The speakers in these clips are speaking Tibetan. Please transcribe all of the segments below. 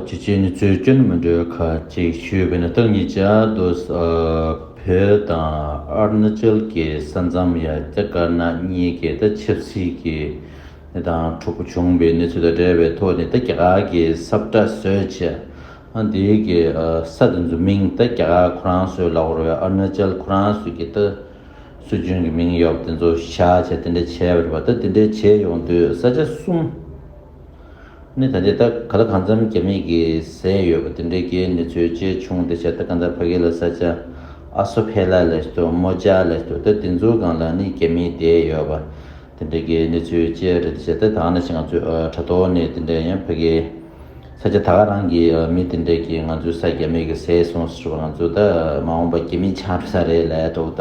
ཀྱི་རྗེས་ནས་རྩོད་སྐྱོན་མི་འགྲོའི་ཁ་ཅིག་ཞུས་པས་ན་སྟག་ཉིད་ཅག་རྡོ་བོད་དང་ཨར་ན་ཅལ་གྱི་ས་མཚམས་ཡ་རྒྱ་དཀར་ནག་གཉིས་ཀྱི་ད་ཆབ་སྲིད་ཀྱི་གནས་སྟངས་འཁྲུག་པོ་བྱུང་བའི་གནས་ཚུལ་དང་འབྲེལ་བའི་ཐོག་ནས་ད་རྒྱ་གར་གྱི་སབ་བཀྲ་བཟོས་བྱས་ཨ་འདི་གི་ས་དེ་ཚོའི་མིང་ད་རྒྱ་གར་ཁོ་རང་ཚོའི་ལག་བོར་བའི་ཨར་ན་ཅལ་ཁོ་རང་ཚོས་ཀྱི་ད་སྲོལ་རྒྱུན་གྱི་མིང་ཡོབ་དེ་ཚོ་བཞག་བྱས་དེ་འདྲ་བྱས་པ་རེད་པ་ད་དེ་འདྲ་བྱས་ཡོང་དུས་ས་ཆ་གསུམ་གནས་ད་ལྟའི་སྟག་ག་ལ་གང་འཚམ་རྒྱ་མིས་ཀྱི་ཟས་ཡོད་པ་དེ་འདྲའི་རྒྱའི་ནུས་ཚོད་ཅེ་ཆུང་དེ་ཆ་ད་ག་འདྲ་ཕ་གི་ལ་ས་ཆ་ཨ་སོ་ཕེ་ལ་ལས་ཏོ་མོ་ཅ་ལས་ཏོ་ད་དེ་ཚོའི་སྒང་ལ་ནི་རྒྱ་མིས་བསྡད་ཡོད་པ་དེ་འདྲའི་རྒྱའི་ནུས་ཚོད་ཅེ་རེད་དེ་ཆ་ད་ད་ང་ནི་ཆ་ང་ཚོའི་དྲ་ཐོག་ནས་དེ་འདྲའི་ཡང་ཕ་གི་ས་ཆ་ད་ག་རང་གི་མི་དེ་འདྲའི་ཀྱི་ང་ཚོའི་ས་རྒྱ་མིས་ཀྱི་ཟས་སོང་ཟེར་བ་ང་ཚོ་ད་མ་འོངས་པ་རྒྱ་མིས་ཆགས་འགྲོ་ས་རེད་ལས་ཏོ་ད།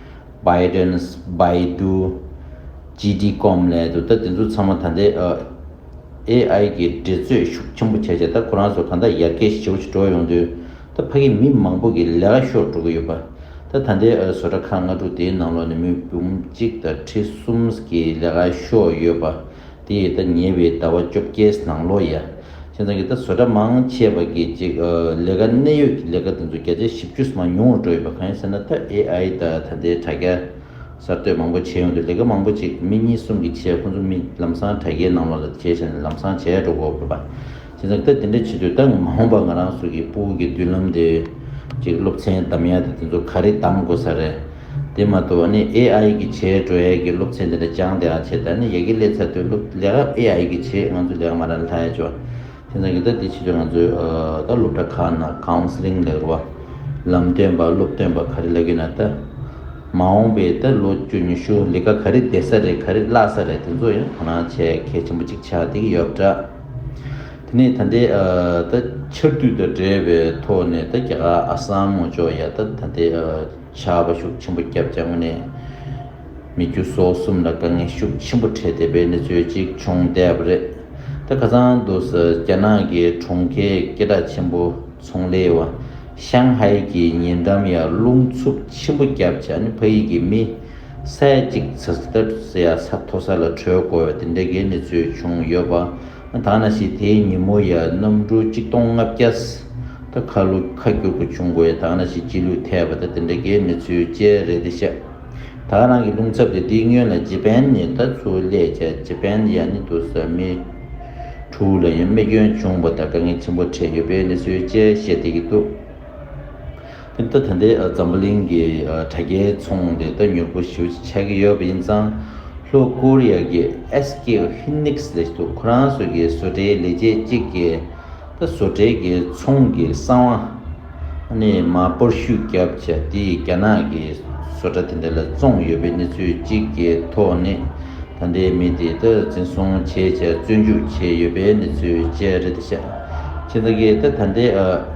Bidens Baidu GD Comm ལས་དུ་ད་དེ་ཚོ་ཚང་མ་ད་འདི AI གི་འབྲེལ་རྩོད་ཤུགས་ཆེན་པོ་བྱས་བྱས་ད་ཁོ་རང་ཚོ་གང་ད་ཡར་རྒྱས་ཞེ་བོ་ཞིག་འགྲོ་ཡོང་དུས་ད་ཕ་གི་མི་མང་པོ་གི་ལས་ཀ་ཤོར་འགྲོ་གི་ཡོད་པ་ད་ད་འདི་བཟོ་གྲ་ཁང་ལྔ་དྲུག་དེའི་ནང་ལོག་ནས་མི་འབུམ་གཅིག་དང་ཁྲི་གསུམ་གི་ལས་ཀ་ཤོར་ཡོད་པ། དེ་ཡི་ད་ཉེ་བའི་ཟླ་བ་བཅོ་བརྒྱད་ནང་ལོ་ཡ་ཁྱེད་ཚང་གི་ད་བཟོ་གྲྭ་མང་ཆེ་བ་གི་ཅིག་ལས་ཀ་གནད་ཡོད་ཀྱི་ལས་ཀ་དེ་ཚོ་བརྒྱ་ཆའི་བཞི་བཅུ་ས་མ་ཉུང་བ་འགྲོ་ཡོད་པ་གང་ཡིན་ཟེར་ན་ད AI ད་ད་ལྟའི་དྲ་རྒྱ་གསར་གཏོད་མང་པོ་བྱས་ཡོང་དུས་ལས་ཀ་མང་པོ་ཅིག་མི་གཉིས་གསུམ་གྱིས་བྱས་ཁོང་ཚོ་མི་ལམ་སང་དྲ་རྒྱའི་ནང་ལོག་ལ་བྱས་བྱས་ནས་ལམ་སང་བྱས་འགྲོ་གོ་བོད་པ། དེ་ནས་སྐབས་དེ་འདྲ་བྱེད་དུས་ད་ངས་མ་འོངས་པར་ང་རང་སོགས་ཀྱི་སྤོ་བོ་གི་མདུན་ལམ་དེ། ཅིག་སློབ་ཚན་གདམ་ཡ་དེ་དེ་ཚོ་ག་རེ་གདམ་དགོས་ས་རེད། དེ་མ་གཏོགས་ཨ་ནི AI གི་བྱེད་འགྲོ་ཡ་གི་སློབ་ཚན་དེ་འདྲ་སྦྱངས་དེ་ཨ་བྱས་ད་ནི་ཡ་གི་ལས་ཚར་དུས་སློབ་ལས་ཀ AI གི་བྱེད་ང་ཚོ་ལས་ཀ་མ་ར་ལྷ་ཡ་ཅོ། དེ་ཚང་གི་ད་དེ་བྱེད་དུས་ང་ཚོ་ད་སློབ་གྲྭ་ཁག་ན Counseling ལས་ཀ། ལམ་སྟོན་པ་སློབ་སྟོན་པ་ག་རེ་ལས་ཀི་ན་ད། མ་འོངས་པའི་ད་ལོ་བཅུ་ཉི་ཤུ་ལས་ཀ་ག་རེ་བསྡད་ས་རེད་ག་རེ་བརླག་ས་རེད་དེ་ཚོ་ཡང་དོ་སྣང་བྱེད་གལ་ཆེན་པོ་ཅིག་ཆགས་དེ་གི་ཡོད་པ་འདྲ། དེ་ནས་ད་ལྟའི་ད་ཆར་དུས་དང་བྲལ་བའི་ཐོག་ནས་ད་རྒྱ་གར་ཨ་སམ་ངོ་ཅོག་ཡ་ད་ད་ལྟའི་བྱ་བ་ཤུགས་ཆེན་པོ་བརྒྱབ་རྒྱ་ངོ་ནས་མི་རྒྱུ་སོགས་གསུམ་ལ་དཀའ་ངལ་ཤུགས་ཆེན་པོ་འཕྲད་བསྡད་པའི་གནས་ཚུལ་ཅིག་བྱུང་བསྡད་པ་རེད་ད་ག་ཚང་དུ་ཟེར་རྒྱ་ནག་གི་གྲོང་ཁྱེར་སྐད་གྲགས་ཆེན་པོ་ཚོང་ལས་བ་ཤང་ཧའེ་ཀྱི་ཉེ་འགྲམ་ཡར་རླུང་འཚུབ་ཆེན་པོ་བརྒྱབ་བྱ་ནི་ཕ་ཡིག་གི་མི། ས་ཡ་གཅིག་ཚ་ཚ་དར་དར་ཟེར་ཡ་ས་མཐོ་ས་ལ་བྲོས་དགོས་པའི་དེ་འདྲའི་གལ་གནད་ཚུལ་བྱུང་ཡོད་པ། ད་ན་ཞིག་དེའི་ཉིན་མོ་ཡར་གནམ་གྲུ་གཅིག་སྟོང་ལྔ་བརྒྱ་ད་ཁ་ལུ་ཁ་བསྒྱུར་དགོས་བྱུང་དགོས་ད་ན་ཞིག་སྤྱི་ལུས་ཐལ་བ་ད་དེ་འདྲའི་གལ་གནད་ཚུལ་བཅས་རེད་དེ་ཤ་ད་རང་གི་རླུང་ཚབ་དེ་འདི་སྨྱོན་ལ་ཇེ་པན་ནི་ད་ཚུར་སླེད་བྱས་ཇེ་པན་ཡ་ནི་དུ་ས་མི་དྲུག་ལ་ཡང་རྨས་སྐྱོན་བྱུང་བ་ད་དཀའ་ངལ་ཆེན་པོ་འཕྲད་ཡོད་པའི་གནས་ཚུལ་བཅས་བཤད་བསྡད་ཀྱི་འདུག། ཁྱིམ་ཐོ་དེ་འདྲའི་འཛམ་བུ་གླིང་གི་དྲ་རྒྱའི་ཚོང་འབྲེལ་ལྟ་མྱུར་པོ་ཞུ་བྱེད་ཀྱི་ཡོད་པ་ཡིན་ཙང། ལྷོ་ཀོ་རི་ཡ་གི SK Hynix ལས་ཐུག་ཁོ་རང་ཚོ་གི་བཟོ་གྲྭའི་ལས་བྱེད་གཅིག་གིས་ད་བཟོ་གྲྭའི་གི་ཚོང་གི་གསང་བ་ནི་མ་པོར་ཤུགས་རྒྱབ་བྱ་དེ་རྒྱ་ནག་གི་བཟོ་གྲྭ་དེ་འདྲ་ལ་བཙོང་ཡོད་པའི་གནས་ཚུལ་གཅིག་གི་ཐོག་ནས་ད་འདྲའི་མི་དེ་ད་འཛིན་བཟུང་བྱེད་བྱ་བཙོན་འཇུག་བྱས་ཡོད་པའི་གནས་ཚུལ་བཅས་རེད་ད་ཤ་ཁྱི་ད་གི་ད་ད་འདྲའི་ཨ།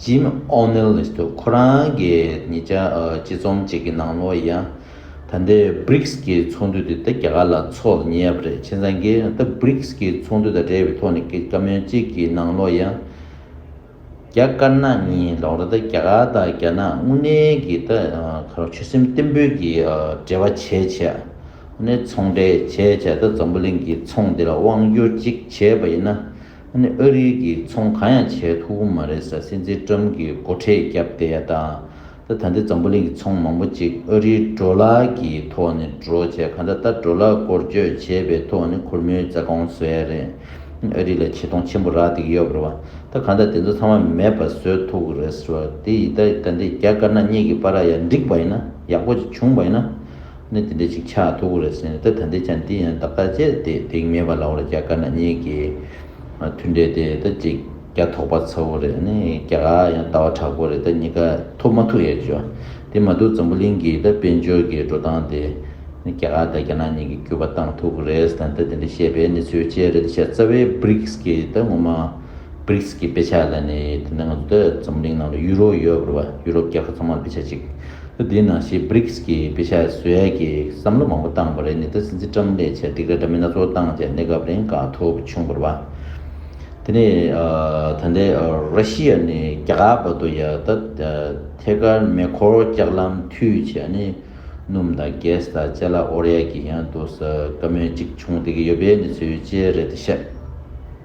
ཇིམ་ཨོ་ནེལ་ལིས་དུ་ཁོ་རང་གིས་ཉེ་ཆར་སྤྱི་རྩོམ་ཅིག་གི་ནང་ལོ་ཡ། ད་ལྟའི Brics ཀྱི་ཚོགས་འདུ་དེ་ད་རྒྱ་གར་ལ་འཚོགས་ལ་ཉེ་བ་རེད་ཁྱེད་ཚང་གིས་ད Brics ཀྱི་ཚོགས་འདུ་དང་འབྲེལ་བའི་ཐོག་ནས་གི་བཀའ་མོལ་ཅིག་གི་ནང་ལོ་ཡ། རྒྱ་དཀར་ནག་གཉིས་ལོག་ར་ད་རྒྱ་གར་དང་རྒྱ་ནག་དངོས་གནས་ཀྱི་ད་གར་ཆོད་སེམས་བརྟན་པོས་ཀྱི་འབྲེལ་བ་བྱས་བྱས་ནས་ཚོང་འབྲེལ་བྱས་བྱས་ད་འཛམ་བུ་གླིང་གི་ཚོང་འདི་ལ་དབང་བསྒྱུར་ཅིག་བྱས་པ་ཡིན་ན་ཨ་ནི་ཨ་རིའི་གིས་ཚོང་གང་ཡང་བྱས་ཐུབ་པོ་མ་རེད་ས་སྲིད་འཛིན་ཀྲམ་གིས་སྒོ་ཁྲལ་བརྒྱབ་བསྡད་ཡ་ད། ད་ད་འདི་འཛམ་བུ་གླིང་གི་ཚོང་མང་པོ་ཅིག་ཨ་རིའི་འགྲོ་ལ་གི་ཐོག་ནས་འགྲོ་བྱས་ག་འདྲ་ད་འགྲོ་ལ་སྐོར་བསྐྱོད་བྱས་པའི་ཐོག་ནས་ཁོར་མོའི་རྩ་དགོངས་བཟོས་ཡ་རེད། ཨ་རི་ལ་ཆེ་མཐོང་ཆེན་པོ་རག་བསྡད་ཀི་ཡོད་རེད་བ། ད་ག་འདྲ་དེ་ཚོ་ཚང་མ་མེད་པ་བཟོས་ཐུབ་གི་རེད་བ་དེ་ཡི་ད་ད་འདི་རྒྱ་དཀར་ནག་གཉིས་ཀི་པ་ར་ཡ་འགྲིག་པ་ཡིན་ན་ཡག་པོ་ཅིག་བྱུང་བ་ཡིན་ན། ནི་དེ་འདྲའི་ཅིག་ཆ་ཐུག་གོ་རེད་ཟེར་ནས་ད་ད་འདི་ཆ་འདི་ཡང་བདག་ལྟར་ཅེས་དེ་དེང་མེད་པ་ལ་འོ་ལ་རྒྱ་དཀར་ནག་གཉིས་ཀྱི་མཐུན་འབྲེལ་དེ་ད་ཅིག་རྒྱ་ཐོག་པ་ཚ་བོ་རེད་ནི་རྒྱ་གར་ཡང་ལྟ་བ་དྲག་པོ་རེད་ད་གཉིས་ཀ་ཐུག་མ་ཐུག་ཡ་ཅོ། དེ་མ་ཐུག་འཛམ་བུ་གླིང་གི་ད་དཔལ་འབྱོར་གྱི་འགྲོ་སྟངས་དེ་ནི་རྒྱ་གར་དང་རྒྱ་ནག་གཉིས་ཀྱི་སྐྱུར་པ་བཏང་ཐུག་གོ་རེད་ཟེར་ནས་ད་དེ་འདྲ་བཤད་པའི་གནས་ཚུལ་བཅས་རེད་ད་ཤ་ཚ་བའི Brics གི་ད་ངོ་མ Brics གི་དཔེ་ཆ་ལ་ནི་དེ་འདྲ་ང་ཚོ་ད་འཛམ་བུ་གླིང་ནང་ལ་ཡུ་རོ་ཡོད་པར་བ་ཡུ་རོབ་རྒྱལ་ཁབ་ཚང་མར་དཔེ་ཆ་ཅིག་ལོ་དེའི་ནང་ཞེས Briggs གྱིས་བེ་ཤ་ཟོལ་གྱི་བསམ་བློ་མང་པོ་བཏང་བ་རེད་ནི་ད་སྲིད་འཛིན་ཀྲམ་ལས་ཆེད་སྒྲིག་ར་འདྲ་མིན་སྣ་ཚོགས་བཏང་རྗེས་གནས་སྐབས་རིང་དགའ་ཐུབ་བྱུང་བར་བ། དེ་ནས་ད་ལྟའི་ར་ཤི་ཡ་ནས་རྒྱ་གར་བར་དུ་ཡང་ད་ཐད་ཀར་མེ་འཁོར་ལྕགས་ལམ་མཐུད་ཆེད་ཨ་ནེ་སྣུམ་དང Gas དང་བཅས་ལ་ཨོ་རད་ཀྱི་ཡང་དུ་ས་དཀའ་མོད་ཅིག་བྱུང་བསྡད་ཀྱི་ཡོད་པའི་གནས་ཚུལ་བཅས་རེད་དེ་བཤད།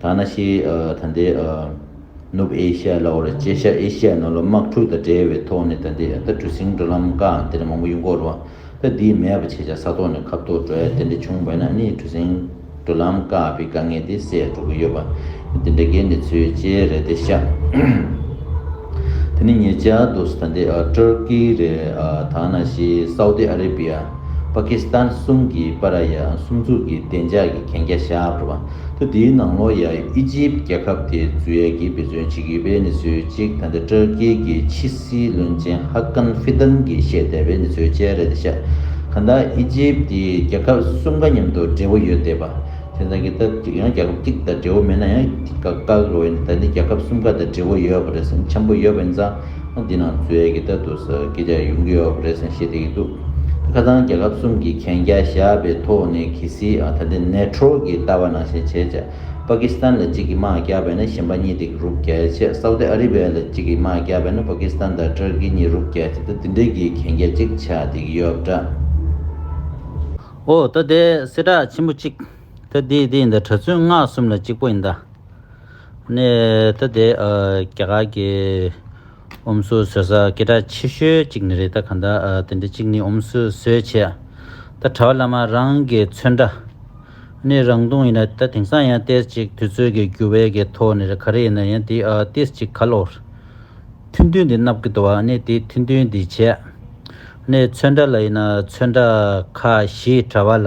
ཐ་ན་ཤེས་ཡོན་ཐ་དད་ནུབ་ཨེ་ཤ་ལ་བར་གཅེས་ཤ་ཨེ་ཤ་ནང་ལོག་དམག་འཁྲུག་དང་འབྲེལ་བའི་ཐོག་ནས་ད་ལྟའི་ཨ་ད་གྲུ་སིང་འགྲོ་ལམ་དཀའ་འང་དེ་ལས་མང་པོ་གཡུག་འགོ་རུ་བ་ད་འདིའི་མེད་པ་བྱས་ཆ་ས་ཐོག་ནས་ཁབ་ཐོག་འགྲོ་ཡ་དེ་འདྲ་བྱུང་བས་ན་ཨ་ནི་གྲུ་སིང་འགྲོ་ལམ་དཀའ་བའི་དཀའ་ངལ་དེ་སེལ་འགྲོ་གི་ཡོད་པ་འདི་འདྲ་གའི་གནས་ཚུལ་ཅེ་རེད་དེ་ཤ་དེ་ནི་ཉེ་ཆར་དུ་ད་ལྟའི་ཏུར་ཀི་རེད་ཐ་ན་ཤེས་ཡོན་སའུ་ཏི་ཨ་རི་བྷི་ཡ་པ་ཀི་སི་ཐན་གསུམ་གྱི་པ་ར་ཡ་གསུམ་ཚུགས་ཀྱི་བདེ་འཇགས་ཀྱི་གན་རྒྱ་བཞག་འགྲོ་བ། ཐུ་དེའི་ནང་ལོ་ཡ་ཨི་ཇིབ་རྒྱལ་ཁབ་དེ་འཛུལ་ཡས་ཀྱིས་འབད་བརྩོན་བྱེད་ཀྱི་བའི་ནི་ཚོད་ཅིག་ད་ལྟ་ཏྲར་ཀེ་ཀྱི་ཕྱི་སྲིད་བློན་ཆེན་ཧ་ཀན་ཧྥི་ཏན་གྱིས་བཤད་བསྡད་བའི་ནི་ཚོད་ཅལ་རེད་ཤག་ག་ད་ཨི་ཇིབ་དེ་རྒྱལ་ཁབ་གསུམ་ག་མཉམ་དུ་འབྲེལ་བོ་ཡོད་བསྡད་པ་དེ་འདང་གི་ད་ཡང་རྒྱལ་ཁབ་གཅིག་དང་འབྲེལ་བོ་མེད་ན་ཡང་ག་ག་གི་བའི་ནི་ད་ནི་རྒྱལ་ཁབ་གསུམ་ག་དང་འབྲེལ་བོ་ཡོད་པ་རེད་སེམས་འཆམ་པོ་ཡོད་པ་ཡིན་ཙང། འདི་ནང་མཛོད་ཀྱི་ལྟ་འདུག་ས་དགེ་རྒྱ་ཡུམ་གྱི་ཨོ་པརེ་སེན་བྱེད་བསྡད་ཀྱི་འདུག་ཁ་རྡང་རྒྱལ་ཁབ་གསུམ་གྱི་གན་རྒྱ་བཞག་པའི་ཐོག་ནས་གྷི་སི་ད་ལྟའི་ནད་འཕྲོག་གི་ལྟ་བ་ནང་བཞིན་བྱས་ཅག་པ་ཀི་སི་ཐན་ལ་གཅིག་གིས་དམག་རྒྱག་པས་ན་གཞན་པ་གཉིས་དེ་རུབ་རྒྱག་ཅེས་སའུ་ཏི་ཨ་རི་བྷེ་ལ་གཅིག་གིས་དམག་རྒྱག་པས་ན་པ་ཀི་སི་ཐན་དང་ཏུར་ཀི་གཉིས་རུབ་རྒྱག་ཅེས་ད་དེ་འདྲ་གི་གན་རྒྱ་གཅིག་བྱས་བསྡད་ཀྱི་ཡོད་འདྲ། ཨོ་ད་དེ་སེ་དྲག་ཆེན་པོ་གཅིག་ད་དེ་དེ་ཡིན་ད་གྲ་ཚུན་སྔགས་གསུམ་ལ་གཅིག་པོ་ཡིན་ད། ནས་ད་དེ་རྒྱ་གར་གྱི་ཨུ་མསུ་ཟོས་ས་སྐད་གྲགས་ཆེ་ཤོས་གཅིག་ནི་རེད་ད་ག་འདྲ་དེ་འདྲ་གཅིག་ནི་ཨུ་མསུ་ཟོས་བྱས་ད་གྲ་བ་བླ་མ་རང་གི་མཚོན་འདྲ་ནས་རང་དུང་ཡིན་ན་ད་དེང་སང་ཡང་ཏེས་གཅིག་དུས་ཚོད་ཀྱི་འགྱུར་བའི་གི་ཐོག་ནས་ག་རེ་ཡིན་ན་ཡང་དེ་ཏེས་གཅིག་ག་ལོར་མཐུན་མཐུན་དེ་མནབ་གི་འདུག་བ་ནས་དེ་མཐུན་མཐུན་དེ་བྱས་ནས་མཚོན་འདྲ་ལ་ཡིན་ན་མཚོན་འདྲ་ཁ་ཞེས་གྲ་བ་ལ།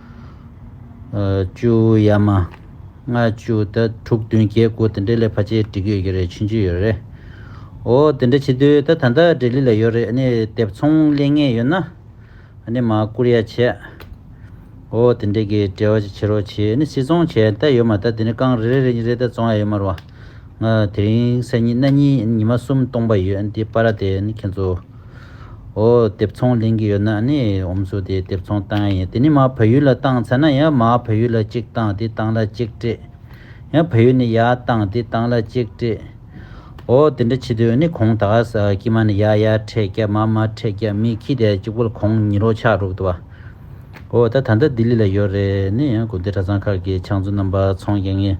བཅུ་ཡ་མ། ལྔ་བཅུ་དེ་དྲུག་བདུན་བརྒྱད་དགུ་དེ་འདྲའི་ལས་ཕ་ཆེ་འགྲིག་ཡོད་ཀྱི་རེད་ཕྱིན་ཅི་ཡོད་རེད། འོ་དེ་འདྲ་བྱེད་དུས་ད་ད་ལྟ་འབྲས་ལི་ལ་ཡོད་རེད་ནས་དེབ་ཚོང་གླེང་ངེས་ཡོད་ན། ནས་མ་བསྐུར་ཡ་བྱས། འོ་དེ་འདྲའི་གི་འབྲེལ་བ་ཅིག་བྱེད་རོགས་བྱས་ནས་སྲིད་ཚོང་བྱས་ད་ཡོད་མ་ད་དེ་ནས་རྐང་རེ་རེ་རེ་རེ་ད་ཚོང་ཡ་ཡོད་མ་རུ་བ། དེ་རིང་སད་གཉིས་གནས་གཉིས་ཉི་མ་གསུམ་སྟོང་པ་ཡོད་འདི་པ་ར་དེ་ནི་ཁྱེད་ཚོ་འོ་དེབ་ཚོང་ལེན་གི་ཡོད་ན་ནི་འོམ་སུ་དེ་དེབ་ཚོང་བཏང་ཡ་ཡིན་དེ་ནི་མ་བོད་ཡུལ་ལ་བཏང་ཚེ་ན་ཡ་མ་བོད་ཡུལ་ལ་གཅིག་བཏང་དེ་བཏང་ལ་གཅིག་སྤྲད་ཡ་བོད་ཡུལ་ནི་ཡ་བཏང་དེ་བཏང་ལ་གཅིག་སྤྲད་འོ་དེ་འདྲ་བྱེད་དུས་ནི་གོང་ད་ག་ས་ཀྱི་མ་ནི་ཡ་ཡ་ཕྲད་ཀྱ་མ་མ་ཕྲད་ཀྱ་མི་ཁྱི་དེ་གཅིག་པོ་གོང་ཉི་རོ་ཆག་རུག་ཏུ་བ་འོ་ད་ད་ལྟ་ལྡི་ལི་ལ་ཡོད་རེད་ནི་ཡ་དགོན་སྡེ་གྲ་ཚང་ཁག་གི་ཕྱག་མཛུ་རྣམ་པ་ཚོང་ཀྱ་ངས།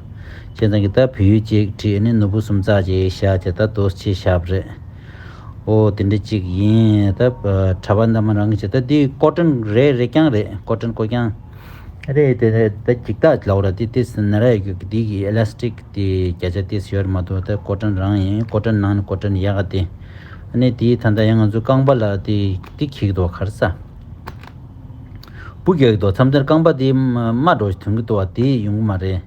ཁྱེད་རང་གིས་ད་བུ་ཡུག་གཅིག་བྲིས་ནས་ནོར་བུ་གསུམ་བཙགས་ཀྱི་ཡིག་ཞགས་དེ་ད་དོར་ཆེ་ཞབས་རེད། ཨོ་དེ་འདྲ་གཅིག་ཡིན་ད། གྲྭ་པ་འདམ་མ་རང་གིས་བྱས་ད་འདི་ཀོ་ཀྲན་རེད་རེད་རྐྱང་རེད་ཀོ་ཀྲན་ཀོ་རྐྱང། རེད་དེ་ད་འགྱིག་ཐག་གི་ལོགས་ར་དེ་དེ་སྲིད་ན་ར་ཡོད་གི་འདི་གི Elastic དེ་བརྒྱ་ཆ་དེ་སྲིད་ཡོད་ར་མ་འདུག་ད་ཀོ་ཀྲན་རང་ཡིན་ཀོ་ཀྲན་ནང་ནས་ཀོ་ཀྲན་ཡག་ག་དེ། ཨ་ནི་དེའི་ཐ་མདའ་ཡང་ང་ཚོའི་རྐང་པ་ལ་དེ་འདི་གྱིག་འདུག་གར་ས། སྤུ་རྒྱལ་གྱི་རྡོ་འཚམས་དེར་རྐང་པ་དེའི་རྨ་གྲོ་ཞིག་དོན་གྱིས་བཏོ་བ་དེ་ཡིས་ཡོང་གི་མ་རེད།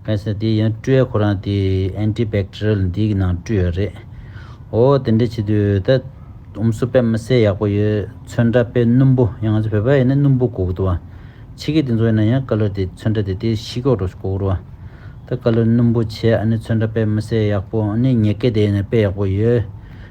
གལ་སྲིད་དེ་ཡིན་སྤྲུལ་ཡ་ཁོ་རང་དེ Anti Bacterial འདིའི་ནང་བཀྲུས་ཡོད་རེད། ཨོ་དེ་འདྲ་བྱེད་དུས་ད་ཨུམ་སུ་པས་མི་སེར་ཡག་པོ་ཡོད་ཚོད་འདྲ་དཔེ་སྣུམ་པོ་ཡང་ང་ཚོ་བོད་པ་ཡིན་ན་སྣུམ་པོ་གོ་གི་འདུག་བ། ཕྱི་སྐད་དེ་ཚོ་ཡིན་ན་ཡང་ཀ་ལོར་དེ་ཚོད་འདྲ་དེ་དེ་ཤི་ཀོག་གྲོ་ཞིག་གོ་གི་རུ་བ། ད་ཀ་ལོར་སྣུམ་པོ་བྱས་ཨ་ནི་ཚོད་འདྲ་དཔེ་མི་སེར་ཡག་པོ་ཨ་ནི་ཉེ་སྐད་དེ་ཡིན་ན་དཔེ་ཡག་པོ་ཡོད།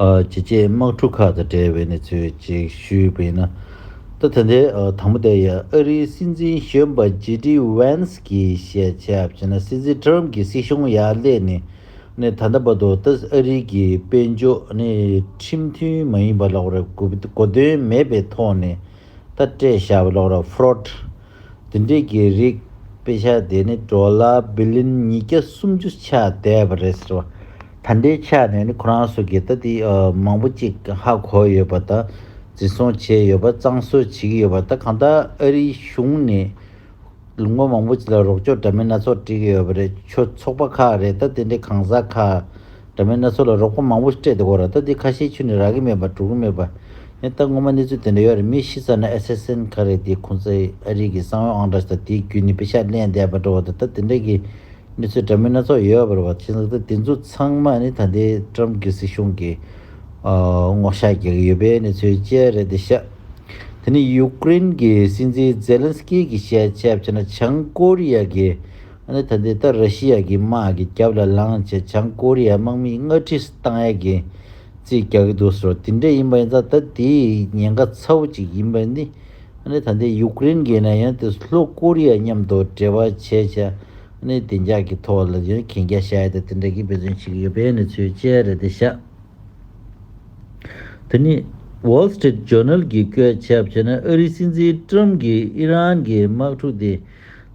བྱེད་ཆེད་དམག་འཁྲུག་ཁག་དང་འབྲེལ་བའི་གནས་ཚུལ་གཅིག་ཞུས་པས་ན། ཟླ་དེ་འདས་དང་པོ་དེར་ཡང་ཨ་རིའི་སྲིད་འཛིན་གཞོན་པ་ཇེ་ཏི་ཝན་སི་ཀིས་བཤད་ཆ་བྱས་ན་སྲིད་འཛིན་ཏྲམ་གྱི་སྲིད་གཞུང་ཡར་སླེབས་ནས་ནི་ད་ལྟ་བར་དུ་ད་གཟོད་ཨ་རིའི་གི་དཔལ་འབྱོར་ནི་ཁྲིམས་མཐུན་མ་ཡིན་པ་གློག་ར་གོ་དོན་མེད་པའི་ཐོག་ནས་ད་སྤྲད་བཞག་པའི་གློག་ར Fraud འདི་འདྲའི་དགེ་རིགས་དཔེ་ཆ་དེ་ནི་གྲོ་ལ་བི་ལིན་ཉིས་བརྒྱ་སུམ་ཅུ་ཆགས་བསྡད་པ་རེད་ཟེར་བ་ད་འདྲའི་ཆགས་ནས་ནི་ཁོ་རང་ཚོ་དགེ་རྩ་དེ་མང་པོ་ཅིག་ཧ་གོ་ཡོད་པ་དང་འཛིན་བཟུང་བྱས་ཡོད་པ་གཙང་བཟོས་བྱེད་ཀྱི་ཡོད་པ་ད་གང་ལྟར་ཨ་རིའི་གཞུང་ནས་ལོ་ངོ་མང་པོ་ཅིག་ལ་རོགས་སྐྱོར་འདྲ་མིན་སྣ་ཚོགས་སྤྲད་ཀྱི་ཡོད་པ་རེད་ཆོས་ཚོགས་པ་ཁག་རེད་ད་དེ་འདྲའི་གང་ཟག་ཁག་འདྲ་མིན་སྣ་ཚོགས་ལ་རོགས་པ་མང་པོ་ཞིག་སྤྲད་དེ་གོ་ར་ད་དེ་ཁ་ཤས་ཆུ་ནས་རག་གི་མེད་པ་འགྲོ་གི་མེད་པ། ཡང་ད་ངོ་མ་གནས་ཚུལ་དེ་འདྲ་ཡོད་རེད་མི་ཤི་ཚར་ན་ཨེ་སེ་སེན་ག་རེད་དེ་ཁོང་ཚོས་ཨ་རིག་གི་གསང་བའི་ཨང་གྲངས་ཞིག་དང་དེའི་རྒྱུན་ནི་པེ་ཤ་ལན་སྡེ་བར་འགྲོ་བ་དང་ད་དེ་འདྲ་གི་གནས་ཚུལ་འདྲ་མིན་སྣ་ཚོགས་ཡོད་པར་བ་ཅན་ཟེར་ད་དེ་ཚོ་ཚང་མ་ནི་ད་ལྟའི་ཏྲམ་གི་སྲིད་གཞུང་གི་སྔོག་བཤགས་རྒྱག་གི་ཡོད་པའི་གནས་ཚུལ་བཅས་རེད་དེ་ཤ་དེ་ནི་ཡུཀ་རེན་གི་སྲིད་འཛིན་ཛེ་ལན་སི་ཀི་གི་བཤད་ཆ་བྱས་ན་བྱང་ཀོ་རི་ཡ་གི་ཨ་ནི་ད་ལྟའི་ལྟར་ར་ཤི་ཡ་གི་དམག་གི་རྒྱབ་ལ་ལངས་རྗེས་བྱང་ཀོ་རི་ཡའི་དམག་མིས་སྔ་ཕྲི་སྟངས་ཡག་གི་རྩིས་རྒྱག་གི་འདུག་ཟེར་བ་དེ་འདྲ་ཡིན་པ་ཡིན་ཙང་ད་དེ་ཉེན་ཁ་ཚ་བོ་གཅིག་ཡིན་པ་ནི་ཨ་ནི་ད་ལྟའི་ཡུ་ཀེ་རེན་གྱི་ནང་ཡང་དེ་ལྷོ་ཀོ་རི་ཡ་མཉམ་དུ་འབྲེལ་བ་བྱས་བྱས་ཨ་ནི་བདེ་འཇགས་ཀྱི་ཐོག་ལ་ཡང་གན་རྒྱ་བཞག་ཡོད་ད་དེ་འདྲ་གི་དཔེ་མཚོན་བྱེད་ཀྱི་ཡོད་པའི་གནས་ཚུལ་བཅས་རེད་དེ་བཞག་དེ་ནི Wall Street Journal གིས་བཀོད་ཁྱབ་བྱས་ན་ཨ་རིའི་སྲིད་འཛིན་ཀྲུམ་གྱིས་ཨི་རན་གྱི་དམག་འཁྲུག་དེ།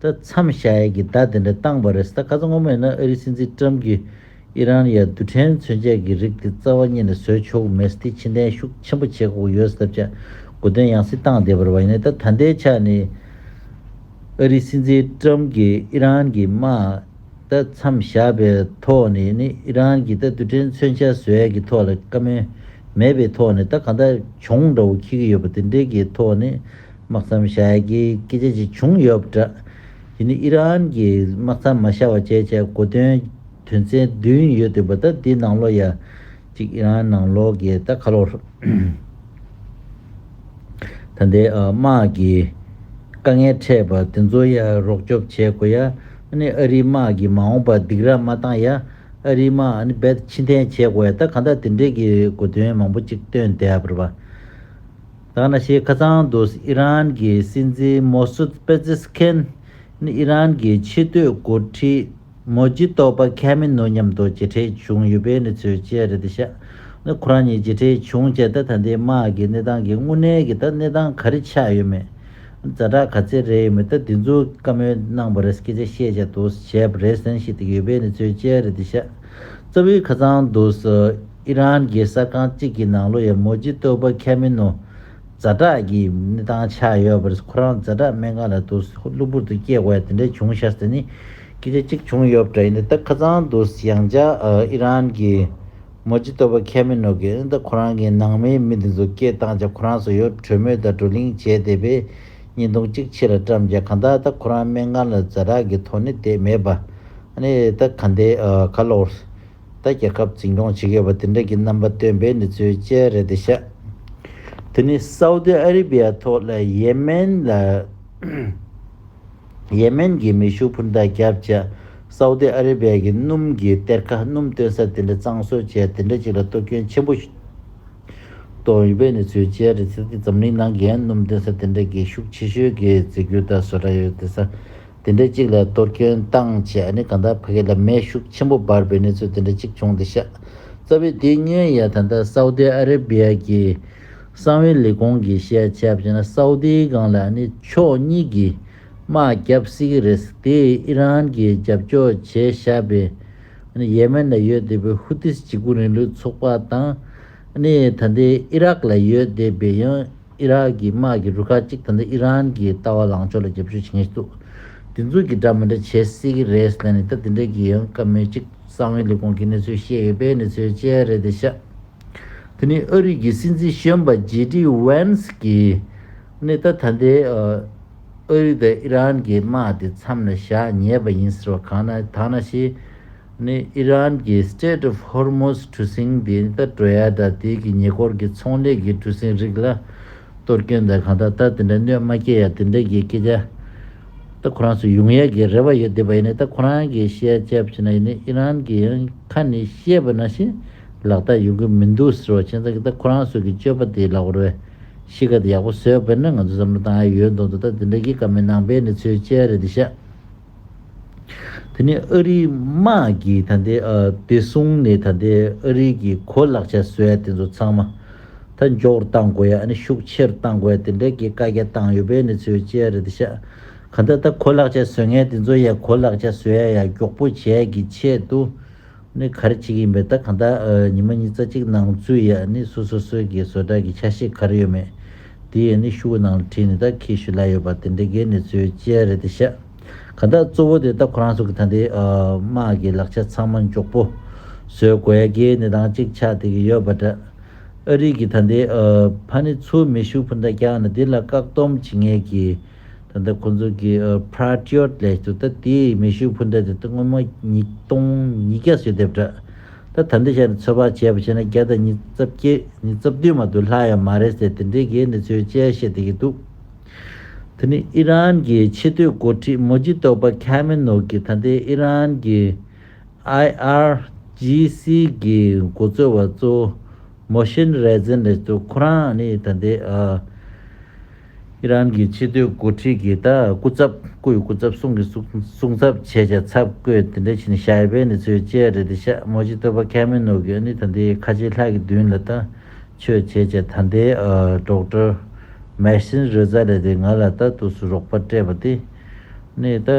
ད་མཚམས་ཤ་ཡལ་གྱི་བརྡ་དེ་འདྲ་བཏང་བ་རེད་ད་ག་ཚོད་ངོ་མ་ཡིན་ན་ཨ་རིའི་སྲིད་འཛིན་ཀྲམ་གྱིས་ཨི་རན་ཡར་རྡུལ་ཕྲན་མཚོན་ཆས་ཀྱི་རིགས་དེ་རྩ་བ་གཉིས་ནས་བཟོས་ཆོག་མེད་སྟེ་ཕྱི་འཐེན་ཤུགས་ཆེན་པོ་བྱེད་དགོས་ཡོད་ཟེར་བྱ་དགོས་དོན་ཡང་སྲིད་སྟངས་བདེ་བར་བ་ཡིན་ནའི་ད་ད་ལྟའི་ཆ་ནས་ཨ་རིའི་སྲིད་འཛིན་ཀྲམ་གྱིས་ཨི་རན་གྱི་དམག་ད་མཚམས་བཞག་པའི་ཐོག་ནས་ནི་ཨི་རན་གྱིས་ད་རྡུལ་ཕྲན་མཚོན་ཆས་བཟོས་ཡ་གྱི་ཐོག་ལ་བཀའ་མོལ་མེད་པའི་ཐོག་ནས་ད་གང་ལྟར་གྱོང་འདྲ་བོ་ཁྱི་གི་ཡོད་པ་དེ་འདྲའི་གྱི་ཐོག་ནས་དམག་མཚམས་བཞག་རྒྱའི་སྐད་ཆ་ཅིག་བྱུང་ཡོད་པ་འདྲ། དེ་ནི་ཨི་རན་གྱིས་དམག་མཚམས་མ་བཞག་པ་བཅས་བྱས་གོ་དོན་དོན་ཚན་བདུན་ཡོད་འདུག་པ་ད་དེའི་ནང་ལོགས་ཡ་གཅིག་ཨི་རན་ནང་ལོགས་ཀྱི་ད་ཁ་ལོ། ད་ལྟའི་དམག་གི་དཀའ་ངལ་འཕྲད་པ་དེ་ཚོ་ཡ་རོགས་སྐྱོབ་བྱས་གོ་ཡ་ཨནི་ཨ་རིའི་དམག་གིས་མ་འོངས་པ་སྡིག་ར་མ་བཏང་ཡ་ཨ་རིའི་དམག་ཨནི་བད་ཕྱི་འཐེན་བྱས་གོ་ཡ་ད་ག་ད་དེ་འདྲས་ཀྱི་གོ་དོན་མང་པོ་ཅིག་བཏོན་དད་པར་བ། ཐ་ན་ཆེས་ཁ་ཚང་དུ་ཨི་རན་གྱི་སྲིད་འཛིན་མོ་སུད་པེ་ཛེ་སི་ཁན་ནི་ཨི་རན་གྱི་ཕྱི་སྡོད་འགོ་ཁྲིད་མོ་ཇི་ཏོ་པ་ཁེ་མེ་ནོ་མཉམ་དུ་མཇལ་འཕྲད་བྱུང་ཡོད་པའི་གནས་ཚུལ་བཅས་རེད་དེ་ཤ་ནི་ཁོ་རང་གཉིས་མཇལ་འཕྲད་བྱུང་རྗེས་ད་ལྟ་འདས་དམག་གི་གནས་སྟངས་ཀྱི་དངོས་གནས་ཀྱི་ད་གནས་སྟངས་ག་རེ་ཆགས་ཡོད་མེད་རྫ་དྲག་ག་ཚད་རེད་ཡོད་མེད་ད་དེ་ཚོའི་བཀའ་མོལ་གནང་བ་རེད་སྐད་ཆ་བཤད་བྱ་དུ་བྱས་པ་རེད་ཟེར་བཞིན་ཡོད་པའི་གནས་ཚུལ་བཅས་རེད་དེ་ཤ་རྩ་བའི་ཁ་ཚང་དུ། ཨི་རན་གྱི་གསར་ཁང་གཅིག་གི་ནང་ལོ་ཡི་མོ་ཇི་སྟོད་པོ་ཁེ་མི་ནོ་རྫ་བྲག་གི་གནས་སྟངས་ཆགས་ཡོད་པ་རེད་ཁོ་རང་རྫ་བྲག་སྨན་ཁང་ལ་དུ་གློ་བུར་དུ་སྐྱེས་བས་དེ་འདྲ་བྱུང་ཤག་ཟེར་ནས་སྐད་ཆ་གཅིག་བྱུང་ཡོད་པ་འདྲ་ཡིན་ད་ཁ་ཚང་དུ་ཡང་བཅའ་ཨི་རན་གྱི་མོ་ཇི་སྟོད་པོ་ཁེ་མི་ནོ་གིས་ཨི་ད་ཁོ་རང་གི་ནང་མའི་མི་དེ་ཚོ་སྐད་བཏང་ཆག་ཁོ་རང་སོ་ཡོད་གྲོས་མོལ་དང་བགྲོ་གླེང་བྱས་དེ་བས་ཉིན་སྟོང་གཅིག་ཕྱི་ལ་བཀྲམ་ཆག་གང་ལྟར་ད་ཁོ་རང་སྨན་ཁང་ལ་རྫ་བྲག་གི་ཐོ་ནི་དེད་མེད་པ་ཨ་ནི་ད་ག་འདི་ག་ལོག་ད་རྒྱལ་ཁབ་འཛིན་སྐྱོང་བྱེད་མཁས་པ་དེ་འདྲ་གྱི་རྣམ་པ་སྟོན་པའི་ནི་ཚུལ་དཔྱད་རེད་དེ་ཤ། དེ་ནི་སའུ་ཏི་ཨ་རི་བྷི་ཡ་ཐོག་ལ་ཡེ་མན་ལ། ཡེ་མན་གྱི་མེ་ཤུགས་འཕུར་མདའ་རྒྱབ་བཅས་སའུ་ཏི་ཨ་རི་བྷི་ཡ་གྱི་སྣུམ་གྱི་གཏེར་ཁ་སྣུམ་སྟོན་ས་དེ་འདྲ་གཙང་བཟོ་བྱས་དེ་འདྲ་ཅིག་ལ་གཏོར་སྐྱོན་ཆེན་པོ་གཏོང་ཡོད་པའི་ནི་ཚུལ་དཔྱད་རེད་དེ་ཟེར་ཏེ་འཛམ་གླིང་ནང་གི་ཡང་སྣུམ་སྟོན་ས་དེ་འདྲ་གྱི་ཤུགས་ཆེ་ཤོས་ཀྱི་རྫས་འགྱུར་དག་བཟོ་གྲྭ་ཡོད་དེ་ས་དེ་འདྲ་གཅིག་ལ་གཏོར་སྐྱོན་བཏང་བྱས་ཨ་ནི་གང་དག་ཕ་གི་ལ་མའི་ཤུགས་ཆེན་པོ་འབར་བའི་གནས་ཚུལ་དེ་འདྲ་གཅིག་བྱུང་སྟེ་ཤ་ཚ་བའི་དུས་སྙན་ཡ་ད་ལྟ་སའུ་ཏི་ཨ་རེ་བྷི་ཡ་གི་གསང་བའི་ལས་ཁུངས་ཀྱི་བཤད་བྱ་བྱས་ན་སའུ་ཏི་སྒང་ལ་ཨ་ནི་ཕྱོགས་གཉིས་ཀྱིས་དམག་བརྒྱབ་སྲིད་ཀྱི་རེད་དེ་ཨི་རན་གྱིས་རྒྱབ་སྐྱོར་བྱས་ཤ་བའི་ཨ་ནི་ཡེ་མན་ལ་ཡོད་བསྡད་པའི་ཧུ་ཏིས་བྱེད་སྒོ་རིང་ལུགས་ཚོགས་པ་དང་ཨ་ནི་ད་ལྟའི་ཨི་རག་ལ་ཡོད་བསྡད་པའི་ཡང་ཨི་རག་གི་དམག་གི་རུ་ཁག་གཅིག་ད་ལྟ་ཨི་རན་གྱི་ལྟ་བ་ལངས་ཕྱོགས་ལ་རྒྱབ་སྐྱོར་བྱེད་མཁན་ཞིག་འདུག་དེ་ཚོ་གིས་འདྲ་མི་འདྲ་བྱེད་སྲིད་ཀྱི་རེད་ཟེར་ནས་ད་དེ་འདྲ་གྱི་ཡོང་སྐབས་མི་གཅིག་གསང་བའི་ལས་ཁུངས་ཀྱི་གནས་ཚུལ་བཤད་ཡོད་པས་འདི་ཚོའི་དཔྱད་རེད་དེ་ཤ་དེ་ནི་ཨ་རིག་གི་སྲིད་འཛིན་གཞོན་པ་ཇེ་ཏི་ཝན་སི་གིས་ནི་ད་ད་ལྟའི་ཨ་རིག་དང་ཨི་རན་གྱི་དམག་དེ་མཚམས་ལ་བཞག་ཉེས་པ་ཡིན་ཟེར་བ་གང་ན་དག་ན་ཞེས། ནི་ཨི་རན་གྱི Strait of Hormuz གྲུ་གཟིངས་འདི་ད་གྲོལ་ཡ་ད་དེ་གི་ཉེ་འཁོར་གྱི་ཚོང་ལས་ཀྱི་གྲུ་གཟིངས་རིགས་ལ་གཏོར་སྐྱོན་ད་གང་ད་ད་དེ་འདྲ་གནོད་མ་སྐྱེལ་ཡ་དེ་འདྲ་གྱི་སྐད་ཆ་ད་ཁོ་རང་ཚོ་ཡུང་ཡ་གི་རེ་བ་ཡོད་བསྡད་པ་ཡིན་ནས་ད་ཁོ་རང་གི་བཤད་བྱ་བྱས་ན་ཡིན་ནས་ཨི་རན་གྱི་ཡང་ཁ་ནས་བཤད་པ་ན་བཞིན་ལག་བསྟར་ཡོང་གི་མི་འདུག་ཟེར་བ་ཁྱེད་ཚང་གི་ད་ཁོ་རང་ཚོ་གི་སྤྱོད་པ་དེ་ལག་བར་བས་གཤིས་ཀ་དེ་ཡག་པོ་བཟོས་དཔེར་ན་ང་ཚོ་བསམ་བློ་བཏང་ཡ་ཡོད་མདོག་མདོག་ད་དེ་འདྲ་གི་ཀ་མེད་ནང་པའི་ནི་ཚོའི་དཔྱད་རེད་འདི་ཤ། དེ་ནས་ཨ་རིའི་དམག་གིས་ད་ལྟའི་བདེ་སྲུང་ནས་ད་ལྟའི་ཨ་རིའི་གི་གོ་ལག་ཆ་བཟོ་ཡ་དེ་ཚོ་ཚང་མ་ད་མགྱོགས་རུ་གཏང་དགོས་ཡ་ཨ་ནི་ཤུགས་ཆེ་རུ་གཏང་དགོས་ཡ་དེ་འདྲའི་གི་བཀའ་རྒྱ་བཏང་ཡོད་པས་ནི་ཚོའི་ཅེ་རེད་ཤག་ག་ད་ད་གོ་ལག་ཆ་བཟོ་མཁན་དེ་ཚོ་ཡ་གོ་ལག་ཆ་བཟོ་ཡ་ཡ་མགྱོགས་པོ་བྱས་གི་ཆེད་དུ། ནི་གར་གཅིག་ཡིན་པས་ད་གང་ལྟར་ཉི་མ་གཉིས་རྩ་གཅིག་ནང་ཚུད་ཡ་ནི་སུ་སོ་སོའི་གི་བཟོ་གྲྭ་གི་ཆ་ཤས་གར་ཡོད་མེད་དེ་ཡ་ནི་ཤུ་བོ་ནང་ལ་དྲིས་ནི་ད་ཁྱེད་ཞུ་ལ་ཡོད་པ་དེ་འདྲའི་གེ་ནི་ཚོའི་གཅལ་རེད་དེ་ཤག་གང་ལྟར་གཙོ་བོ་དེ་ད་ཁོ་རང་ཚོ་གི་ད་འདི་དམག་གི་ལག་ཆ་ཚང་མ་མགྱོགས་པོ་བཟོས་དགོས་ཡ་གེ་ནི་རང་གཅིག་ཆག་དེ་གི་ཡོད་པ་འདྲ་ཨ་རིག་གི་ད་འདི་ཕ་ནི་ཚུ་མི་ཤུ་བོ་འདྲ་རྐྱང་ནི་དེ་ལ་བཀག་སྡོམ་བྱེད་ངེས་གི་ད་ལྟ་ཁོ་ཚོ་གིས Patriot ལས་བྱུང་ད་དེས་མེ་ཤུགས་འཕུར་མདའ་དེ་དག་སྔོན་མོ་ཉིས་སྟོང་ཉིས་བརྒྱ་སོས་དེབ་དྲག་ད་ད་འདི་ཤར་ནས་ཚོད་དཔག་བྱས་པ་བྱས་ན་བརྒྱ་དང་ཉིས་རྩ་བརྒྱད་ཉིས་རྩ་བདུན་མ་དུ་ལྷག་ཡ་མ་རེད་ཟེར་དེ་འདྲའི་གེ་ནི་ཚོའི་དཔྱད་བཤད་དེ་གི་འདུག་དེ་ནི་ཨི་རན་གི་ཆེ་བསྟོད་མགོ་ཁྲིད་མོ་ཇི་ཏོ་པ་ཁ་མེ་ནོ་གིས་ད་ལྟའི་ཨི་རན་གི IRGC གི་མགོ་གཙོ་བ་གཙོ་བོ Mohsen Rezen ལས་བྱུང་ཁོ་རང་ནི་ད་ལྟའི་ཨ། ཨི་རན་གྱི་ཕྱི་སྡོད་འགོ་ཁྲིད་ཀྱི་ད་སྐུ་ཚབ་སྐུ་ཡི་སྐུ་ཚབ་སྲུང་གི་སྲུང་ཚབ་བྱས་བྱས་ཚབ་བསྐོས་དེ་འདྲ་ཕྱིན་ནས་ཤ་ཡེ་བེ་ནི་ཚོའི་ཅལ་རེད་དེ་ཤ་མོ་ཅི་ཐོད་པ་ཁ་མི་ནོར་གི་ཨ་ནི་ད་འདི་ཁ་ཆེའི་ལྷ་གི་མདུན་ལ་ད་ཆོས་བྱས་བྱས་ད་འདི་སྒྲོག་དྲ་མེར་སྲིན་རོལ་རྩ་རེད་དེ་ང་ལ་ད་ཐུགས་སུ་རོགས་པ་སྤྲད་པ་དེ་ནི་ད་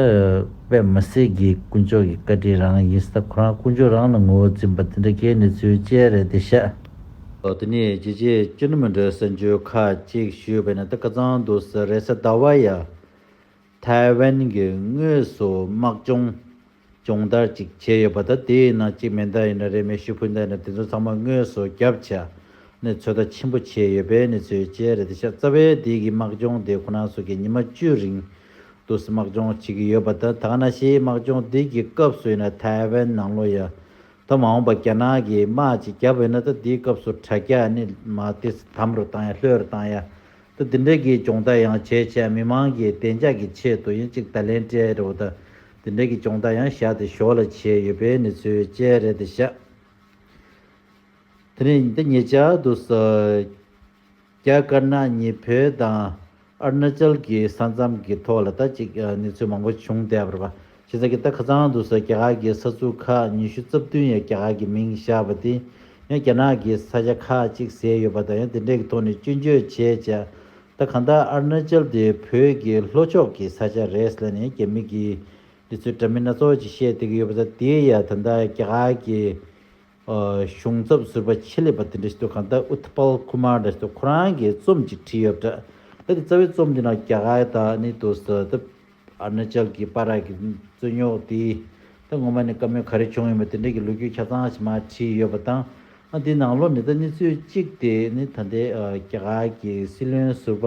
པད་མ་སེར་གྱི་དཀོན་མཆོག་གི་བཀའ་དྲིན་རང་ཡིན་ས་ད་ཁོ་རང་དཀོན་མཆོག་རང་ལ་ངོ་བོ་འཛིན་པ་དེ་འདྲ་ཁའི་ནི་ཚོའི་ཅལ་རེད་དེ་ཤ། དེ་ནས་ཅི་བྱེད་ཅི་ནུས་མི་འདོད་སེམས་ཆོས་ཁ་ཅིག་ཞུས་པས་ན་དེ་ཀ་ཙང་དུ་ཟེར་རེད་ཟེར་ཟླ་བ་ཡ། ཐའི་ཝན་གྱི་དངོས་སུ་དམག་སྦྱོང་སྦྱོང་བརྡར་ཅིག་བྱས་ཡོད་པ་ད་དེའི་ནང་གཅིག་མེ་མདའ་ཡིན་ན་རེ་མེ་ཤུ་ཕུ་མདའ་ཡིན་ན་དེ་ཚོ་ཚང་མ་དངོས་སུ་རྒྱབ་ཆ་ནས་ཚོད་ལྟ་ཆེན་པོ་བྱས་ཡོད་པའི་གནས་ཚུལ་བཅས་རེད་དེ་ཤ་ཚ་བའི་དེ་གི་དམག་སྦྱོང་དེ་ཁོ་ན་སོ་གི་ཉི་མ་བཅུ་རིང་དུ་དམག་སྦྱོང་བྱེད་ཀྱི་ཡོད་པ་ད་ད་ང་ན་ཤེས་དམག་སྦྱོང་དེ་གི་སྐབས་སུ་ཡིན་ན་ཐའི་ཝན་ནང་ལོ་ཡ། ད་མ་འོངས་པ་རྒྱ་ནག་གིས་དམག་ཅིག་བརྒྱབ་ཡོད་ན་ད་འདིའི་སྐབས་སུ་དྲ་རྒྱ་ནི་མ་དེ་དམ་རུ་བཏང་ཡ་ལྷོད་རུ་བཏང་ཡ། ད་འདི་འདྲ་གི་སྦྱོང་བརྡར་ཡང་བྱས་བྱས་མི་མང་གི་བདེ་འཇགས་ཀྱི་ཆེད་དུ་ཡིན་གཅིག་ད་ལན་སྤྲེལ་རེའུ་ད་འདི་འདྲ་གི་སྦྱོང་བརྡར་ཡང་བཞག་དེ་ཞོར་ལ་བྱས་ཡོད་པའི་ནི་ཚུལ་སྤྲེལ་རེད་དེ་བཞག་དེ་ནས་ད་ངེད་ཅག་ཏུ། རྒྱ་དཀར་ནག་གཉིས་བོད་དང་ཨ་རུ་ན་ཅལ་གྱི་ས་མཚམས་ཀྱི་ཐོག་ལ་ད་ཅིག་གནས་ཚུལ་མང་པོ་བྱུང་སྟེ་ཨ་བར་པ་ཞེས་ས་གི་ད་ཁ་ཚང་དུ་སོགས་རྒྱ་གར་གྱི་ས་ཚུགས་ཁག་ཉི་ཤུ་རྩ་བདུན་ཡང་རྒྱ་གར་གྱི་མིང་བཞག་པ་དེ་ཡང་རྒྱ་ནག་གི་ས་ཆ་ཁག་ཅིག་ཟེར་ཡོད་པ་དང་ཡང་དེ་འདྲས་ཀྱི་ཐོག་ནས་སྐྱོན་བརྗོད་བྱས་བྱས་ད་གང་ལྟར་ཨ་རུ་ན་ཅལ་དེ་བོད་ཀྱི་ལྷོ་ཕྱོགས་ཀྱི་ས་ཆ་རེད་ལན་ཡང་རྒྱ་མི་གིས་འདི་ཚོའི་འདྲ་མིན་སྣ་ཚོགས་ཅིག་བཤད་བསྡད་ཀྱི་ཡོད་པ་ད་དེ་ཡང་ད་ལྟ་རྒྱ་གར་གྱི་གཞུང་ཚབ་ཟུར་པ་ཆེད་ལས་པ་དེ་འདྲ་ཞིག་ཏུ་གང་ལྟར Utpal Kumar འདྲ་ཞིག་ཏུ་ཁོ་རང་གིས་རྩོམ་ཅིག་བྲིས་ཡོད་པ་འདྲ། ད་ནི་རྩ་བའི་རྩོམ་དེའི་ནང་རྒྱ་གར་ད་ནི་དུ་ས་ད Arunachal གྱི་པ་རག་གི་རྩོད་རྙོག་དེ་ད་ངོ་མ་ནས་བཀའ་མོལ་ག་རེ་བྱུང་ཡོད་མེད་དེ་འདྲ་གི་ལོ་རྒྱུས་ཆ་ཚང་ཞིག་མ་བྲིས་ཡོད་པ་དང། དེའི་ནང་ལོ་ནས་ད་གནས་ཚུལ་གཅིག་དེ་ནི་ད་ལྟའི་རྒྱ་གར་གྱི་སྲིད་བློན་ཟུར་པ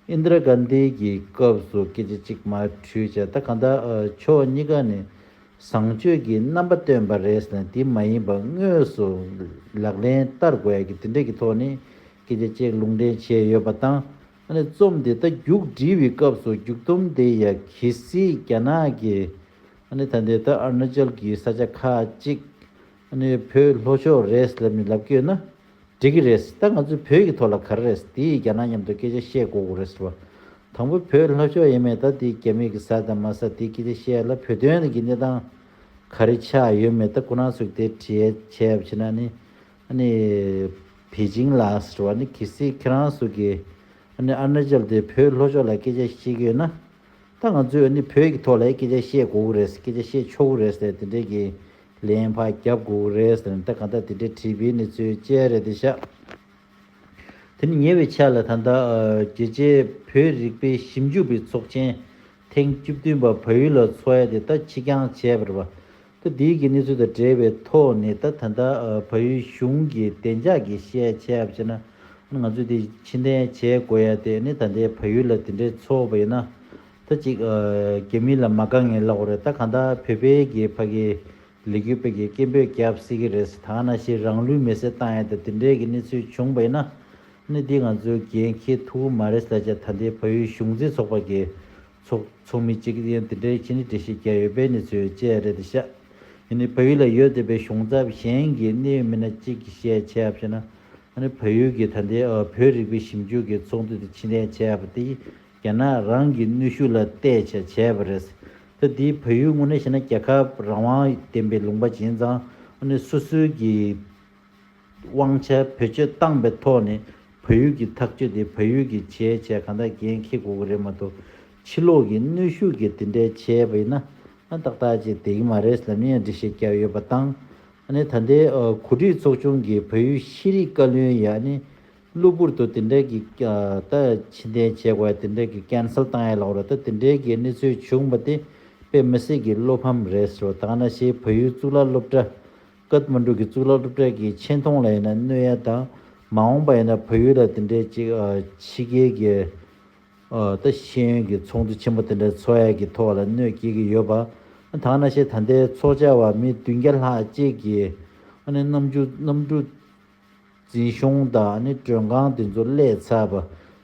Indira Gandhi གྱི་སྐབས་སུ་སྐད་ཆ་གཅིག་མ་འཁྲུལ་བྱས་ད་གང་ལྟར་ཕྱོགས་གཉིས་ཀ་ནས་བཟང་སྤྱོད་ཀྱི་རྣམ་པ་སྟོན་པ་རེད་ཟེར་ན་དེ་མ་ཡིན་པ་དངོས་སུ་ལག་ལེན་བསྟར་དགོས་ཀྱི་དེ་འདྲས་ཀྱི་ཐོག་ནས་སྐད་ཆ་གཅིག་ལུང་འདྲེན་བྱས་ཡོད་པ་དང་ཨ་ནི་རྩོམ་དེ་ད་རྒྱུགས་འབྲི་བའི་སྐབས་སུ་རྒྱུགས་རྩོམ་དེ་ཡ་གི་སི་རྒྱ་ནག་གི་ཨ་ནི་ད་ལྟའི་ད་ཨར་ནཱ་ཅལ་གྱི་ས་ཆ་ཁག་གཅིག་ནས་བོད་ལྷོ་ཕྱོགས་རེད་ལབ་ནས་ལབ་ཀྱོད་ན་འགྲིག་གི་རེད་ད་ང་ཚོས་བོད་ཀྱི་ཐོག་ལ་ག་རེ་རེད་དེ་ཡིས་རྒྱ་ནག་མཉམ་དུ་སྐད་ཆ་བཤད་གོ་གོ་རེད་བ། དང་པོ་བོད་ལྷོ་ཕྱོགས་ཡེ་མེད་ད་དེ་རྒྱ་མི་གི་ཟ་དང་མ་ཟ་དེ་སྐད་ཆ་བཤད་ཡ་ལ་བོད་དོན་གི་གནས་སྟངས་ག་རེ་ཆགས་ཡོད་མེད་ད་ཁོ་ན་ཚོས་དེ་དྲི་ཡ་བྱས་ཡ་བྱས་ན་ནི་ནི་བེ་ཅིང་ལ་བ་ནི་གི་སི་ཁྱེད་རང་ཚོ་གི་ནི་ཨ་རུ་ན་ཅལ་དེ་བོད་ལྷོ་ཕྱོགས་ལ་སྐད་ཆ་བཤད་ཀྱོད་ན་ད་ང་ཚོས་ནི་བོད་ཀྱི་ཐོག་ལ་སྐད་ཆ་བཤད་གོ་གོ་རེད་སྐད་ཆ་བཤད་ཆོག་གོ་རེད་དེ་འདྲའི་གི་ལན་ཕ་རྒྱབ་སྒུག་རེད་ཟེར་ནས་ད་གང་ལྟར་དེ་འདྲའི་བྲིས་པའི་ནི་ཚོའི་དཔྱད་རེད་དེ་ཤ། དེ་ནི་ཉེ་བའི་ཆ་ལ་ད་ལྟ་རྒྱལ་སྤྱའི་བོད་རིག་པའི་ཞིབ་འཇུག་པའི་ཚོགས་ཆེན་ཐེངས་བཅུ་བདུན་པ་བལ་ཡུལ་ལ་འཚོགས་ཡས་དེ་ད་ཕྱི་འགྱང་བྱས་པར་བ་ད་དེའི་གི་གནས་ཚུལ་དང་འབྲེལ་བའི་ཐོག་ནས་ད་ད་ལྟ་བལ་ཡུལ་གཞུང་གི་བདེ་འཇགས་ཀྱི་བཤད་ཆས་བྱས་ན་ང་ཚོས་དེ་ཕྱི་འཐེན་བྱས་དགོས་ཡས་དེ་ནི་ད་ལྟའི་བལ་ཡུལ་ལ་དེ་འདྲའི་འཚོགས་པ་ཡིན་ན་ད་གཅིག་རྒྱ་མི་ལ་མ་དགའ་ངེས་ལོག་རེད་ད་གང་ལྟར་བོད་པའི་རྒྱའི་ཕ་གི་ལས་རྒྱུ་སྤེལ་གི་སྐད་འབོད་རྒྱབ་སྲིད་ཀྱི་རེད་ད་གནའ་ཤེས་རང་ལུས་མེ་སྲེག་བཏང་ཡས་ད་དེ་འདྲའི་གི་གནས་ཚུལ་བྱུང་བས་ན་གནས་འདི་ང་ཚོའི་རྒྱའི་མཁས་ཐུ་བོ་མ་རེད་ད་ཆ་ད་ལྟའི་བ་ཡུལ་གཞུང་འཛིན་ཚོགས་པ་གི་ཚོགས་ཚོགས་མི་གཅིག་གི་ཡང་དེ་འདྲའི་ཁྱེད་ནི་འདྲེ་ཤེས་རྒྱ་ཡོད་པའི་གནས་ཚུལ་བཅས་རེད་ད་ཤ་ཡ་ནི་བ་ཡུལ་ལ་ཡོད་འདོད་པའི་གཞུང་ཚབ་གཞན་གི་གནས་ཡོད་མི་སྣ་གཅིག་གི་ཤས་ཆེ་ཡབ་ཤེས་ན་ཨ་ནི་བ་ཡུལ་གི་ད་ལྟའི་བོད་རིག་པའི་ཞིབ་འཇུག་གི་ཚོགས་འདུ་དེ་ཕྱི་འཐེན་བྱས་ཡབ་པ་དེ་ཡི་རྒྱ་ནག་རང་གི་ནུས་ཤུགས་ལ་གཏད་ཆ་བྱས་པ་རེད། ཐ་དེའི་བོད་ཡུལ་དངོས་གནས་བཤད་ན་རྒྱལ་ཁབ་རང་དབང་ལྡན་པའི་ལུང་པ་བྱིན་ཙང་དངོས་གནས་སོ་སོའི་གི་དབང་ཆ་བེད་སྤྱོད་བཏང་པའི་ཐོག་ནས་བོད་ཡུལ་གི་ཐག་གཅོད་དེ་བོད་ཡུལ་གི་བྱས་བྱས་གང་དག་འགན་འཁེལ་དགོས་གི་རེད་མ་གཏོགས་ཕྱི་ལོག་གི་ནུས་ཤུགས་ཀྱིས་དེ་འདྲའི་བྱས་པ་ཡིན་ན་ཏག་ཏག་ཅིག་དེ་གི་མ་རེད་ལབ་ཡིན་འདྲི་ཤེས་རྒྱ་ཡོད་པ་དང། ཨ་ནི་ད་ལྟའི་གོ་སྒྲིག་ཚོགས་ཆུང་གི་བོད་ཡུལ་ཤེས་རིག་བཀའ་བློན་ཡི་ཨ་ནི། གློ་བུར་དུ་དེ་འདྲའི་གི་ད་ཕྱི་འཐེན་བྱེད་དགོས་དེ་འདྲའི་གི cancel བཏང་ཡས་ལགས་རོ་ད་དེ་འདྲའི་གི་གནས་ཚུལ་བྱུང་པ་དེ་དཔེ་མི་སྲིད་གི་བློ་ཕམ་རེད་རོ་ད་ང་ན་ཤེས་བོད་ཡུལ་གཙུག་ལག་སློབ་གྲྭ། Kathmandu། གི་གཙུག་ལག་སློབ་གྲྭ་གི་ཆེ་མཐོང་ལ་ཡིན་ན་གནོད་ཡ་དང་མ་འོངས་པ་ཡིན་ན་བོད་ཡུལ་ལ་དེ་འདྲའི་གཅིག་ཕྱི་རྒྱལ་གི་ད་ཤེས་ཡོན་གི་ཚོགས་འདུ་ཆེན་པོ་དེ་འདྲ་འཚོགས་ཡས་གི་ཐོག་ལ་གནོད་སྐྱེལ་གི་ཡོད་པ་ཨ་ད་ང་ན་ཤེས་ད་ལྟའི་ཚོགས་བཅར་བ་མི་བདུན་བརྒྱ་ལྷག་བཅས་གི་ཨ་ནི་རྣམ་འགྱུར་རྣམ་འགྲུབ། འཛིན་གཞུང་དག་ནི་མགྲོན་ཁང་འདི་ཚོ་ཀླད་ཚར་བ་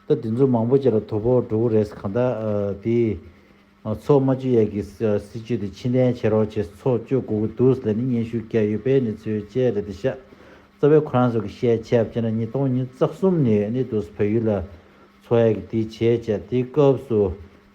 ད་འདི་ཚོ་མང་པོ་ཅིག་ལ་དོ་ཕོག་འགྲོ་གི་རེད་གང་ལྟར་དེ་ང་ཚོ་རྨ་ཆུ་ཡས་ཀྱི་སྲིད་ཇུས་དེ་ཕྱི་འཐེན་བྱེད་རོགས་བྱེད་ཚོགས་སྤྱོད་དགོས་ཀྱི་འདུག་ལས་ནི་སྙན་ཞུ་བསྐྱལ་ཡོད་པའི་གནས་ཚུལ་བཅས་རེད་དེ་ཤ་ཚ་བའི་ཁོ་རང་ཚོ་གི་བཤད་ཆས་བཅས་ན་ཉིས་སྟོང་ཉིས་བརྩེགས་གསུམ་ནས་ནི་དུས་སུ་བལ་ཡུལ་ལ་འཚོ་ཡས་ཀྱི་དེའི་བྱས་བྱས་དེའི་སྐབས་སུ་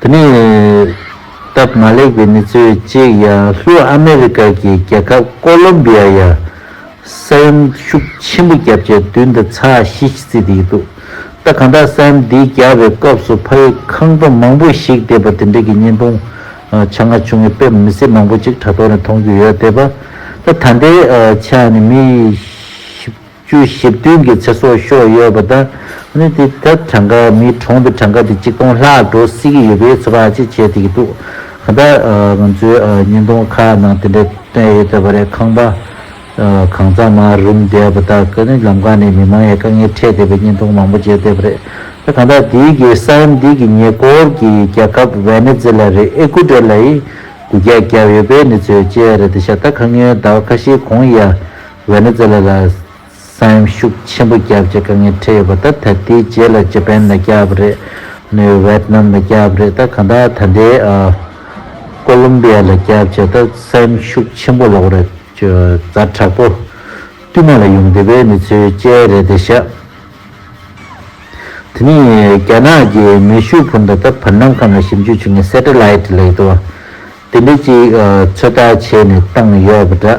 དེ་ནི་སྟབས་མ་ལེགས་པའི་གནས་ཚུལ་གཅིག་ཡང་ལྷོ་ཨ་མེ་རི་ཀ་གི་རྒྱལ་ཁབ་ཀོ་ལོམ་བི་ཡ་ཡང་ས་ཡོམ་ཤུགས་ཆེན་པོ་བརྒྱབ་རྗེས་མདུན་དུ་ཚ་ཞི་ཞིག་བརྩིས་ཏེ་ཡོད་འདུག་ད་གང་དྲག་ས་ཡོམ་འདི་བརྒྱབ་པའི་སྐབས་སུ་ཕ་ཡུལ་ཁང་པ་མང་པོ་ཞིག་བརྡེག་པ་དེ་འབྲེལ་གྱི་བརྙན་ཐུང་ཆ་ང་བྱུང་བའི་དཔེ་མི་སེར་མང་པོ་ཅིག་དྲ་ཐོག་ནས་མཐོང་རྒྱུ་ཡོད་དེ། ད་ལྟའི་ཆར་ནི་མི་བཞི། བཅུ་བཞི་བདུན་གྱི་ཚེ་སྲོག་ཤོར་ཡོད་པ་དང། ནི་དེ་ད་གྲངས་ཀ་མིའི་གྲོང་དུ་གྲངས་ཀ་དེ་གཅིག་སྟོང་ལྷག་འགྲོ་སྲིད་ཀྱི་ཡོད་པའི་ཚོད་དཔག་ཅིག་བྱེད་ཐུབ་ཀྱི་འདུག་གང་ལྟར་ང་ཚོས་བརྙན་ཐུང་ཁག་ནང་དེ་འདྲ་བཏོན་ཡོད་ཚོད་པ་རེད་ཁང་པ་གང་ཙམ་མ་རུམ་བསྡད་པ་དག་གིས་ནི་ལམ་ཁ་ནས་མི་མང་ཡང་དཀའ་ངལ་འཕྲད་བསྡད་པའི་བརྙན་ཐུང་མང་པོ་མཇལ་བསྡད་པ་རེད་ད་གང་ལྟར་དེའི་གེ་སར་འདི་གི་ཉེ་འཁོར་གྱི་རྒྱལ་ཁབ་ཝེ་ནེ་ཛེ་ལ་རི་ཨེ་ཀུ་ཏེར་ལ་ཡིས་དགུ་བརྒྱ་བརྒྱབ་ཡོད་པའི་གནས་ཚུལ་བཅས་རེད་ད་ཤ་ད་ཁ་ངོས་ཟླ་བ་ཁ་ཤས་གོང་ཡ་ཝེ་ནེ་ཛེ་ལ་ལ་ས་ཡོམ་ཤུགས་ཆེན་པོ་བརྒྱབ་ཅེས་དཀའ་ངལ་འཕྲད་ཡོད་པ་དང་ད་ལྟའི་རྗེས་ལ་ཇེ་པེན་ལ་བརྒྱབ་པ་རེད། ནུའི་ཝེད་ནམ་ལ་བརྒྱབ་པ་རེད། གང་ལྟར་ད་ལྟའི་ཀོ་ལུམ་པི་ཡ་ལ་བརྒྱབ་ཅེས་ད་ས་ཡོམ་ཤུགས་ཆེན་པོ་ལོག་རེད། རྫ་དྲག་པོ་བསྟུད་མར་ལ་ཡོང་དུས་བོད་མི་ཚོའི་དཔྱད་རེད་དེ་བཞག་དེ་ནི་རྒྱ་ནག་གི་མེ་ཤུགས་འཕུར་མདའ་ད་བར་ནམ་ཁམས་ལ་ཞིབ་འཇུག་བྱེད་མཁན Satellite ལས་དེ་བ་དེ་འདྲ་གཅིག་ཚོད་ལྟ་བྱས་ནས་བཏང་ཡོད་པ་འདྲ།